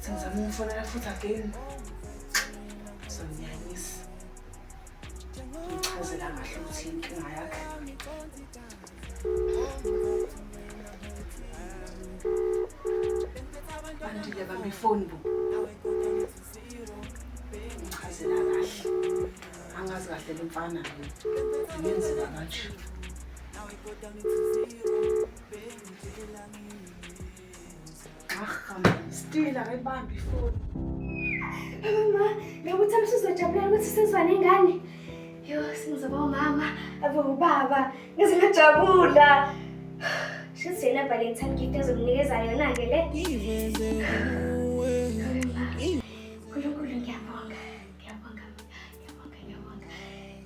Sengizama umfonela futhi again. Soniyanyisa. Ngichazela kahle ukuthi inkinga yakhe. Bandile bami ifoni bo. Ngichazela kahle. Angazi kahle le mfana le. Ngenzela kanje. Now we go down into zero, baby, Still akayibambi ifoni. Mama, ngikuthi amsuzojabulela ukuthi sizwane ingane. Yo, singizoba umama, abe ubaba. Ngize ngajabula. Shithi yena Valentine gift ezomnikeza yona ke le. Nkulunkulu ngiyabonga. Ngiyabonga. Ngiyabonga. Ngiyabonga.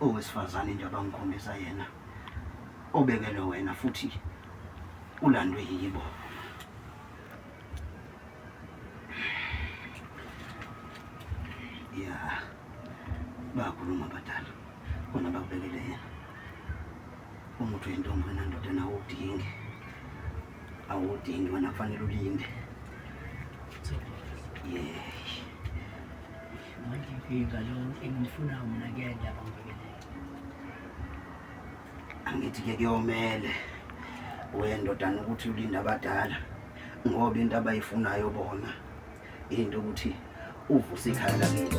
owesifazane nje abangikhombisa yena obekelwe wena futhi ulandwe yibo ya bakhuluma abadala khona bakubekele yena umuthi wentombi wena ndoda nawo udingi awudingi wena kufanele ulinde yeah. Nginkinga lo engimfuna mina kuyena abangibekele. Angithi ke kuyomele wendodana ukuthi ulinde abadala ngoba into abayifunayo bona into ukuthi uvuse ikhaya lakini.